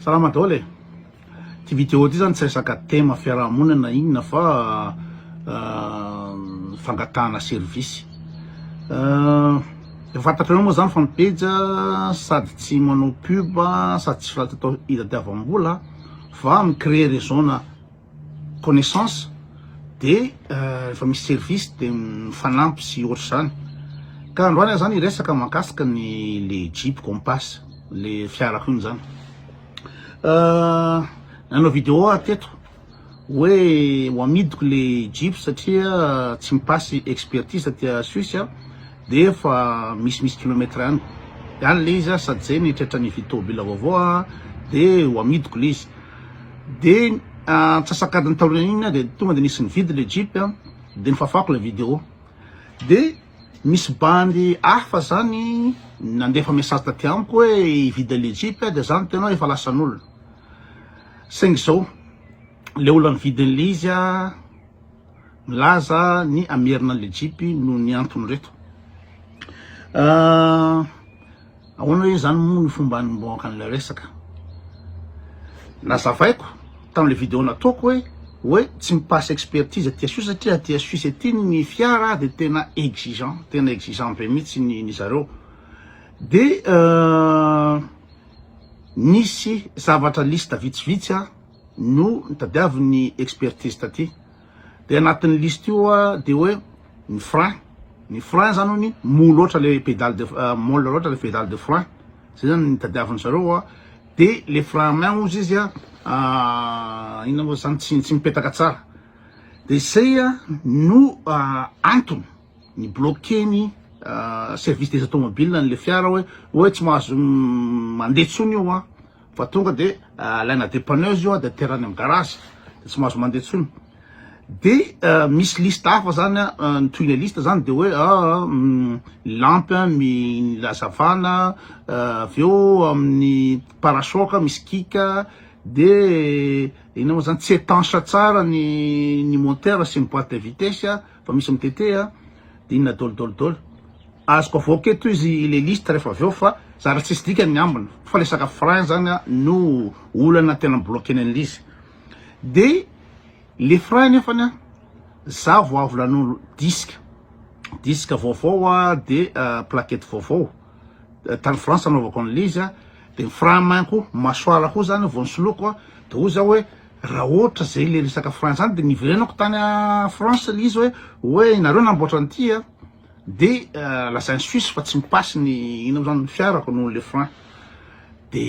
Salama daholo e! Ty vidéo ty zany tsy resaka thème fiarahamonina na inona fa fangatahana service. Efa fantatrareo moa zany fa ny pejy sady tsy manao pub sady tsy flatotao hitadiavam-bola fa mi-créer réseau-na. connaissance de rehefa misy service de mifanampy sy ohatr'izany ka androany aho zany hiresaka mahakasika ny le jeep compass le fiarako iny zany nanao vidéo aho teto hoe ho amidiko le jeep satria tsy mipasy expertise aty à Suisse aho de efa misimisy kilomètre any any le izy aho sady zay ny tretran'ny vy tômôbila vaovao aho de ho amidiko le izy Dia antsasak'adiny taorian'iny dia tonga dia nisy nividy ilay Jeep dia nofafako ilay vidéo. Dia nisy bandy hafa zany nandefa message taty amiko hoe hividy an'ilay Jeep dia za niteny hoe efa lasan'olona. Saingy izao, ilay olona nividy an'ilay izy milaza ny hamerina an'ilay Jeep noho ny antony ireto. Ahoana re izany moa ny fomba hanombohako an'ilay resaka? Nazavaiko tamin'ilay video nataoko hoe hoe tsy mi-passe expertise aty Suisse satria aty Suisse aty ny fiara dia tena exigeant, tena exigeant be mihitsy ny ny zareo. Dia nisy zavatra liste vitsivitsy no nitadiavin'ny expertise taty. Dia anatin'ny liste io dia hoe ny frein, ny frein zany hono mou loatra le pédale de molle loatra le pédale de frein, zay zany no tadiaviny zareo, dia le frein à main hozy izy inona moa zany tsy mipetaka tsara, dia zay no antony. Ni bloquer ny service des automobiles an'ilay fiara hoe hoe tsy mahazo mandeha intsony io an! fa tonga de alaina depanneuse io an! de aterany amin'ny garage de tsy mahazo mandeha intsony de misy liste hafa zany an! ny tohin'ilay liste zany de hoe aa ny lampy an! ny hazavana avy eo amin'ny parachoc misy kick de inona moa zany tsy etanche tsara ny ny moteur sy ny boite de vitesse an! Vao misy mitete a, dinina dol dol dol. Azoko avoaka eto izy ilay liste rehefa avy eo fa zara tsisy dikany ny ambiny fa le saka frein zany a no olana tena mi-bloquer-ny an'ilay izy. De le frein nefany a za vao avy nanolo disque, disque vaovao a de plaquette vaovao tany France anaovako an'ilay izy a, de ny frein main-ko, mâchoire-ko zany vao nisoloiko a de hoy za hoe. Raha ohatra zay le resaka Frantsa zany de niverenako tany France le izy hoe hoe nareo namboatra an'ity a de lazainy suisse fa tsy mi-passe ny ino zany ny fiarako noho le frein de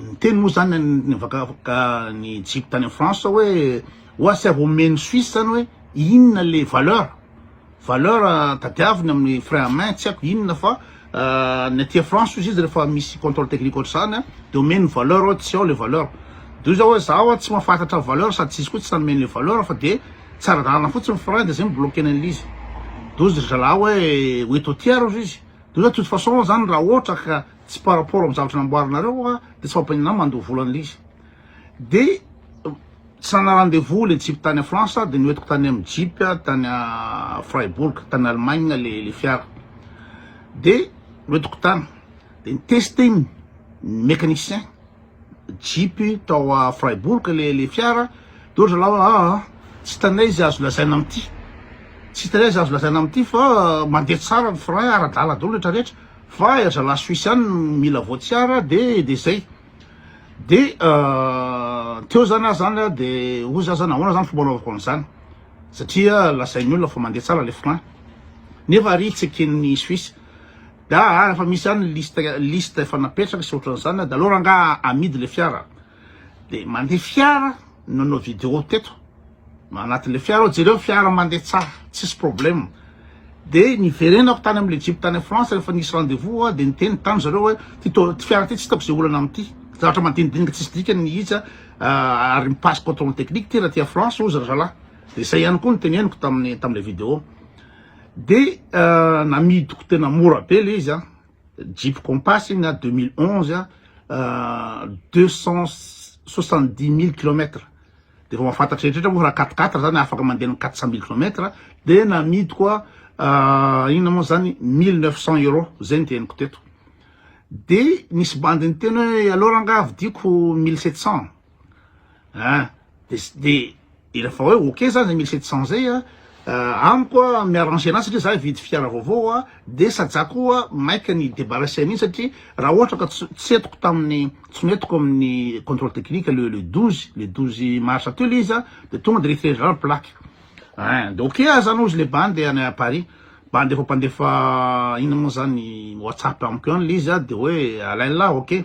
niteny moa zany ny vakavaka ny jeep tany France hoe oa sy avy omeny suisse zany hoe inona le valeur Valeur tadiaviny amin'ny frein à main tsy haiko inona fa ny aty France ozy izy rehefa misy contrôle technique ohatr'izany dia omeny valeur ao tsy ao le valeur dia hoy za hoe za hoa tsy mahafantatra valeur sady tsy izy koa tsy nanome an'le valeur fa dia tsy ara-dalana fotsiny ny frein dia zay mi-bloquer an'le izy dia hozy ry zalahy hoe ho eto aty ary ozy izy dia hoy za de toute façon zany raha ohatra ka tsy par rapport amin'ny zavatra namboarinareo hoa dia tsy mampaninona ahy mandoa vola an'le izy De tsara rendez-vous le jeep tany France de noentiko tany am jeep tany Freiburg tany Allemagne le le fiara de noentiko tany de niteste ny mecanicien jeep tao a Freiburg le le fiara de ohatra laho aa tsy hitanay izy azo lazaina amty tsy hitanay izy azo lazaina amty fa mandeha tsara ny frein ara-dala daholo retraretra fa ry zalahy Suisse ihany no mila voatsiara de de zay. de teo zany ah zany ah de hoy za zany ahoana zany fomba anaovako an'izany satria lazain'ny olona fa mandeha tsara le frein nefa ary tsy eken'ny suisse da ah refa misy any liste liste efa napetraka sy ohatran'izany ah de aleo rangaha amidy le fiara de mandeha fiara nanao video teto Anaty le fiara aho, jereo ny fiara mandeha tsara, tsisy problème. De niverenako tany amin'ny le jeep tany France rehefa nisy rendez vous aho, de niteny tany zareo hoe ty fiara ty tsy hitako ze olana amity, zavatra madinidinika tsisy dikany mihitsa, ary mi passe controle technique ty raha aty France ozy razalahy, de zay ihany koa no teneniko taminy tamle video, de namidiko tena mora be le izy an, jeep compass iny an, deux mille onze an, deux cent soixante dix mille kilomètre Dia efa mahafantatra eritretra moa fa raha quatre quatre zany afaka mandeha ny quatre cent mille kilomètre dia namidiko a inona moa zany mille neuf cent euros zay ny teniko teto dia nisy bandy niteny hoe aleo rangah vidiako mille sept cent ein dia s- dia dia rehefa hoe ok zany zay mille sept cent zay a amiko a mi-arranger anazy satria za hividy fiara vaovao a Dia saja koa maika ny debarrasser mihitsy satria raha ohatra ka tsy etiko tamin'ny tsy noetiko amin'ny controle technique le le douze le douze mars teo le izy an dia tonga dia rehefa rehetra plaque ein dia ok aza no izy le bandy any à Paris bandy efa mpandefa inona moa zany whatsapp amiko any le izy an dia hoe Alain la ok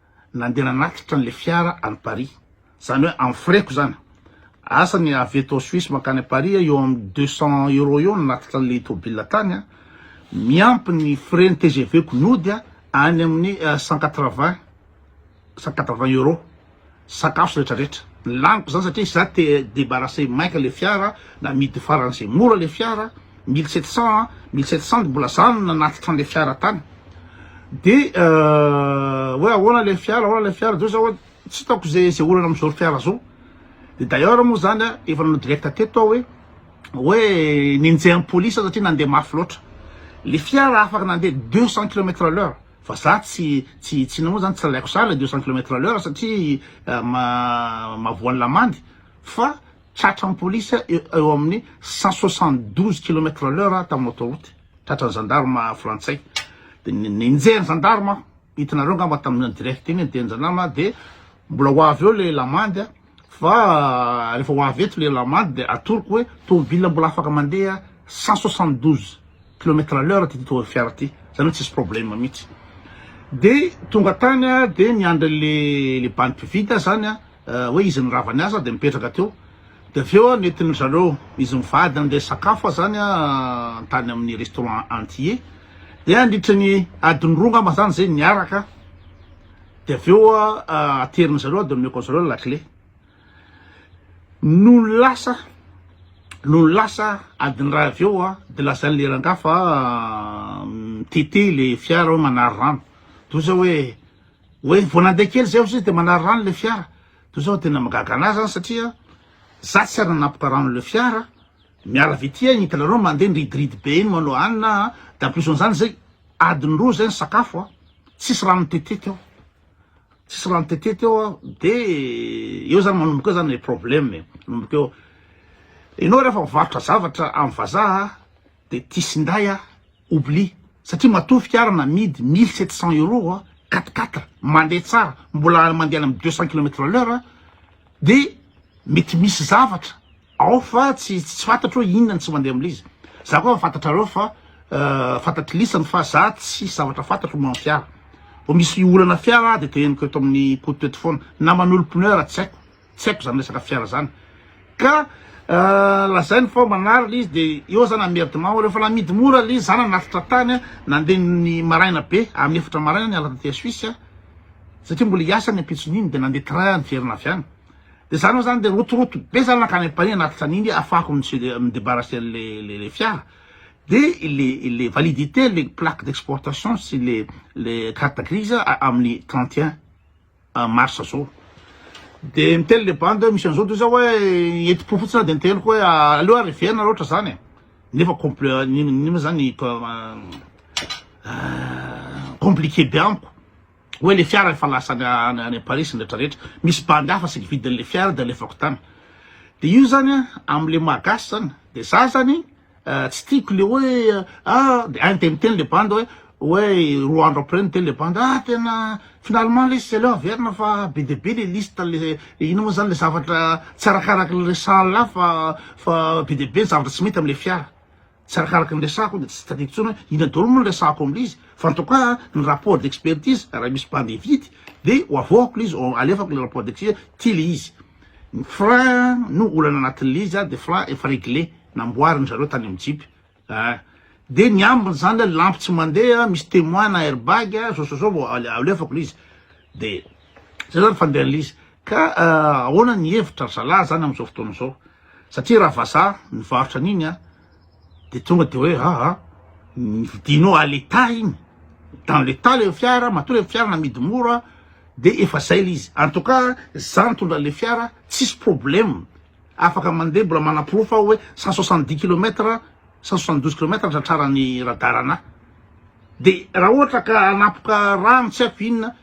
nandeha nanatitra an'ilay fiara any Paris, izany hoe amin'ny frais-ko izany, asa ny avy eto Suisse mankany Paris eo amin'ny deux cent euros eo no nanatitra an'ilay tôbila tany, miampy ny frais-n'ny TGV-ko nody any amin'ny cent quatre vingt, cent quatre vingt euros, sakafo sy rehetra rehetra, ny laniko izany satria izaho te-debarrasser maika ilay fiara, namidy faran'izay mora ilay fiara. mille sept cent an, mille sept cent mbola za no nanatitra an'ilay fiara tany, de hoe ahoana ilay fiara, ahoana ilay fiara, de hoy za hoe tsy hitako ze ze olana am'zao fiara zao, de d'ailleurs moa zany an efa nanao direct teto aho hoe hoe nenjehan'ny police aho satria nandeha mafy loatra, le fiara afaka nandeha deux cent kilomètre à l'heure fa za tsy tsy tsy namoa zany tsy lalaiko sahy le deux cent kilomètre à l'heure satria ma- mahavoan'ny lamandy fa tratra ny polisy eo amin'ny cent soixante douze kilomètre à l'heure tamin'ny autoroute, tratra ny gendarme frantsay, dia nenjehy ny gendarme, hitanareo angamba tamin'ny direct iny, nenjehy ny gendarme, dia mbola ho avy eo ilay lamandy, fa rehefa ho avy eto ilay lamandy dia atoroko hoe tomobilina mbola afaka mandeha cent soixante douze kilomètre à l'heure ity fiara ity, izany hoe tsisy problème mihintsy, dia tonga tany aho dia niandry an'ilay bandy mpivily aho izany an, hoe izy ny rava ny azy dia mipetraka teo dia avy eo nentin dry zareo izy mivady andeha sakafo zany tany amin'ny restaurant antille dia andritry ny adiny roa ngamba zany zay niaraka dia avy eo aterin zareo dia omeko anzareo ny lakile no lasa no lasa adiny ray avy eo dia lazain'le rangahy fa mitete le fiara hoe manary rano toy zao hoe Hoe vao nandeha kely zay hozy izy de manary rano le fiara, de zao tena mahagaga anah zany satria za tsy ary nanapaka rano le fiara, miala avy ety an hitanareo mandeha nridiridy be iny manao anina an, de en plus an'zany zay adiny roa zay ny sakafo an, tsisy rano tete teo, tsisy rano tete teo an, de eo zany manomboka eo zany le probleme e, manomboka eo, enao refa mivarotra zavatra amin'ny vazaha Dia tisindahy a oubli satria matoa fiara namidy mille sept cent euro a quatre quatre mandeha tsara mbola mandeha any amin'ny deux cent kilomètre à l'heure dia mety misy zavatra ao fa tsy tsy fantatro hoe inona no tsy mandeha amin'ilay izy za koa fantatrareo fa fantatry lisany fa za tsisy zavatra fantatro momba ny fiara vao misy olana fiara aho dia te henoko eto amin'ny koto eto foana na manolo pneu ara tsy haiko tsy haiko zany resaka fiara zany ka lazainy fa manary le izy de eo zany amerdement reo fa namidy mora le zana nafitra tany nandeha ny maraina be amin'ny efatra maraina ny alatra tia suisse a satria mbola hiasa ny ampitson'iny de nandeha train niverina avy any de zany moa zany de rotoroto be zany nankany am-pania nafitra an'iny afahako midebarrasser le le fiara de le le validité le plaque d'exportation sy le le carte grise amin'ny trente et un mars zao de miteny le bandy hoe misy an'zao toy zao hoe enti-po fotsiny aho de niteniko hoe aleo ary heverina raha ohatra zany e nefa compl- ny ny ma zany compliqué be amiko hoe le fiara efa lasa any any any Paris ny retraretra misy bandy hafa saika vidin'le fiara de alefako tany de io zany a am'le maha gasy zany de za zany Tsy tiako le hoe ah de any de miteny le banda hoe hoe roa andro après miteny le banda ah tena finalement lesy zay leo averina fa be de be le liste le ino moa zany le zavatra tsy arakaraky ny resahan'lah fa fa be de be ny zavatra tsy mety am'le fiara tsy arakaraky ny resahako de tsy tadidiko intsony hoe inona daholo moa ny resahako am'le izy fa en tout cas ny rapport d'expertise raha misy banda hividy de ho avoahako le izy ho alefako le rapport d'expert ty le izy Ny frein no olana anatin'ilay izy ary dia frein efa reglé, namboariny zareo tany amin'ny jeep ah, dia ny ambiny zany ilay lampy tsy mandeha misy temoin na air bag ah, zao sy zao vao alefako ilay izy, dia zay zany fandehan'ilay izy, ka ahoana ny hevitra ry zalahy zany amin'izao fotoana izao, satria raha vazaha nivarotra an'iny ah, de tonga de hoe aa vidinao à l'etat iny dans l'etat le fiara matoa le fiara namidy mora de efa zay le izy en tout cas za nitondra le fiara tsisy problème afaka mande mbola manaporofo aho hoe cent soixante dix kilomètre cent soixante douze kilomètre ny tratrarany radar anah de raha ohatra ka hanapoka rano tsy haiko inona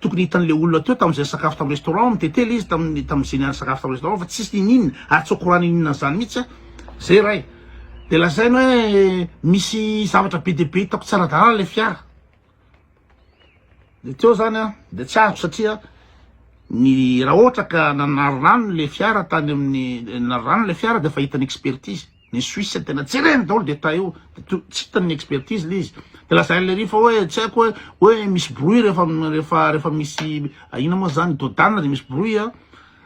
Tokony hitan'ilay olona teo tamin'izay nisakafo tamin'ny restaurant, mitete ilay izy tamin'ny tamin'izay niara nisakafo tamin'ny restaurant fa tsy nisy niniana ary tsy au courant niniana an'izany mihitsy aho. Zay ray. Dia lazainy hoe misy zavatra be dia be hitako tsy ara-dalàna ilay fiara. Dia teo izany aho dia tsy azoko satria ny raha ohatra ka nanary rano ilay fiara tany amin'ny nanary rano ilay fiara dia efa hitan'ny expertise. Ny suisse tena jereny daholo de ta eo de tsy hitany ny expertise le izy de lazainy le rifa oe tsy aiko oe oe misy bruit refa refa refa misy ina moa zany dodane de misy bruit a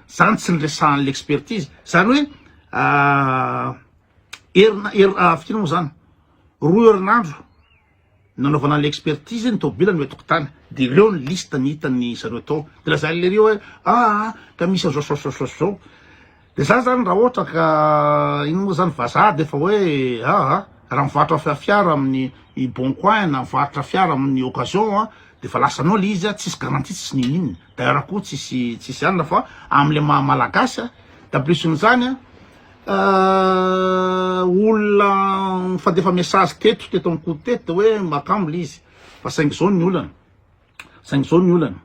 zany tsy niresahany le expertise zany oe herina firy moa zany roa herinandro Nanaovana an'ilay expertise ny tomobilany hoe tokontany dia ireo ny liste ny hitan'ny zareo tao dia lazain'i lery hoe aa ka misy an'izao zao zao zao zao dia zany zany raha ohatra ka ino moa zany vazaha dia efa hoe aa raha mivarotra fiara amin'ny i bon coin na mivarotra fiara amin'ny occasion a dia efa lasanao ilay izy a tsisy garantie tsisy ninin d'ailleurs koa tsisy tsisy anona fa amin'ilay maha malagasy a da plus an'izany a Ahh olona mifandefa message teto teto am ko teto de hoe makamo le izy fa saingy zao ny olana saingy zao ny olana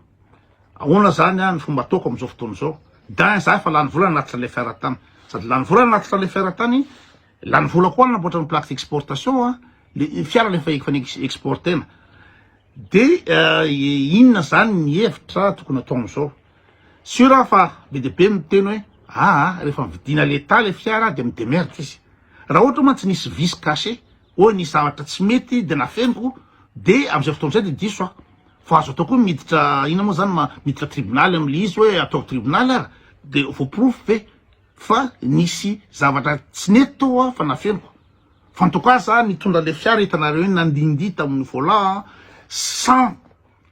ahoana zany an ny fomba ataoko amzao fotoana zao dain za efa lany vola nanatitra le fer tany sady lany vola nanatitra le fer tany lany vola koa nanamboatra ny plaque d'exportation an le fiara le efa efa exportena de inona zany ny hevitra tokony atao amzao. Sûr aho fa be dia be ny miteny hoe aa rehefa mividiana l'etat le fiara de mi-demerde izy. Raha ohatra mantsy nisy vice caché, hoe nisy zavatra tsy mety de nafeniko de amin'izay fotoana izay de diso aho. Fa azo atao koa ny miditra inona moa zany ma, miditra tribonaly amin'le izy hoe ataovy tribonaly ara de voaporofo ve fa nisy zavatra tsy nety tao aho fa nafeniko. Fa en tout cas za nitondra le fiara hitanareo iny nandindihy tamin'ny volant sans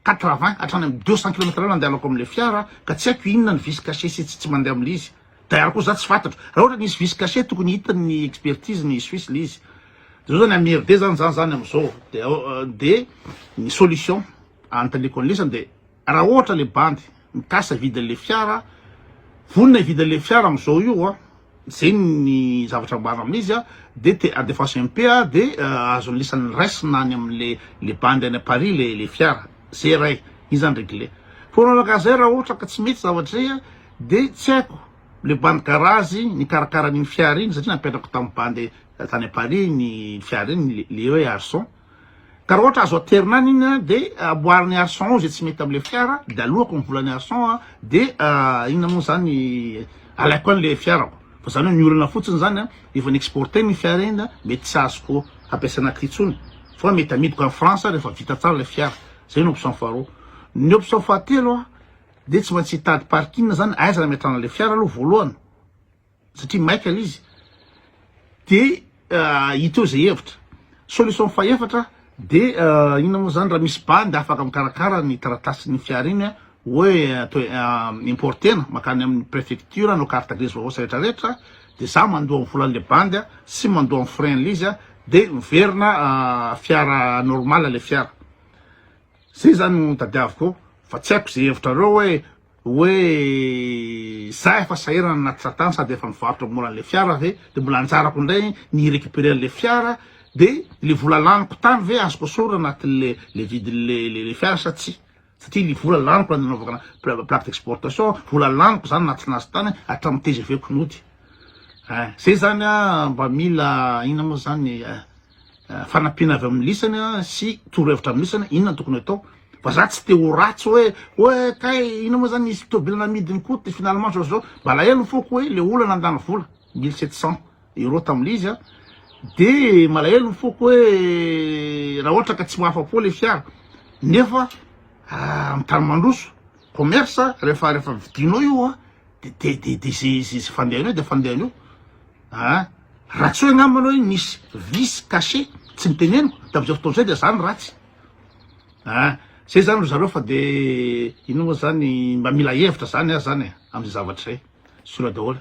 Quatre vingt hatrany amin'ny deux cent kilomètre l'heure andehanako amin'ilay fiara ka tsy haiko inona ny vice caché sy tsy tsy mandeha amin'ilay izy. D'ailleurs koa za tsy fatatro. Raha ohatra nisy vice caché tokony hitany ny expertise ny suisse ilay izy. Zao zany amerde zany za zany amzao de de ny solution anotaniako anlesany de raha ohatra le bandy Mikasa hividy an'le fiara, vonona hividy an'le fiara amin'izao io a, zay ny zavatra ambarina amin'izy a, de te handefaso MP a, de azony lisany raisina any amin'le le bandy any à Paris le le fiara, zay ray, iny zany regle. Fa ho anao rangahy zay raha ohatra ka tsy mety zavatra zay a, de tsy haiko le bandy garage nikarakara an'iny fiara iny satria nampiatrako tamin'ny bandy tany à Paris iny fiara iny le hoe Arson. Ka raha ohatra azo aterina any iny an, dia amboariny arçon ao izay tsy mety amin'ilay fiara, dia aloako ny volan'ny arçon an, dia inona moa izany, alaiko any ilay fiarako. Fa izany hoe miorina fotsiny izany an, efa ni-exporter ny fiara iny an, mety tsy azoko hampiasaina aty intsony, fa mety amidiko any France aho rehefa vita tsara ilay fiara. Izay no option faharoa. Ny option fahatelo an, dia tsy maintsy hitady parking izany, aiza no hametrahana ilay fiara aloha voalohany. satria maika le izy de hita eo zay hevitra solution fahefatra de inona moa zany raha misy bandy afaka mikarakara ny taratasin'ny fiara iny hoe atao importena makany amin'ny prefecture anao carte grise vaovao sy rehetra rehetra de za mandoa ny volan'le bandy sy mandoa ny frein le izy de miverina fiara normal le fiara Zay zany no tadiaviko fa tsy haiko ze hevitrareo hoe hoe za efa sahirana anaty satan sady efa mivarotra mora anle fiara ve de mbola anjarako indray ny recuperer le fiara de le vola laniko tany ve azoko esorina anatinle le vidinle le fiara sa tsy satria le vola laniko nanaovana plaque d'exportation vola laniko zany natsina azy tany hatramin'ny tgv ko nody eh zay zany mba mila ina moa zany eh fanampiana avy amin'ny lisany sy torohevitra amin'ny lisany, inona no tokony atao? Fa za tsy te ho ratsy hoe hoe kay inona moa zany misy tobile namidiny koa ty finalement zao zao. Malahelo ny foko hoe le olona nandany vola mille sept cents euros tamin'ilay izy an. De malahelo ny foko hoe raha ohatra ka tsy mahafa-po le fiara nefa amin'ny tany mandroso commerce rehefa rehefa vidinao io an. Izay fandehan'ny eo dia fandehan'ny eo an! Raha tsy hoe angamba ianao hoe nisy vice caché tsy noteneniko tamin'izay fotoana izay dia izaho no ratsy an! Izay izany ry zareo fa dia inona moa izany mba mila hevitra izany aho izany e, amin'izay zavatra izay, sola daholo.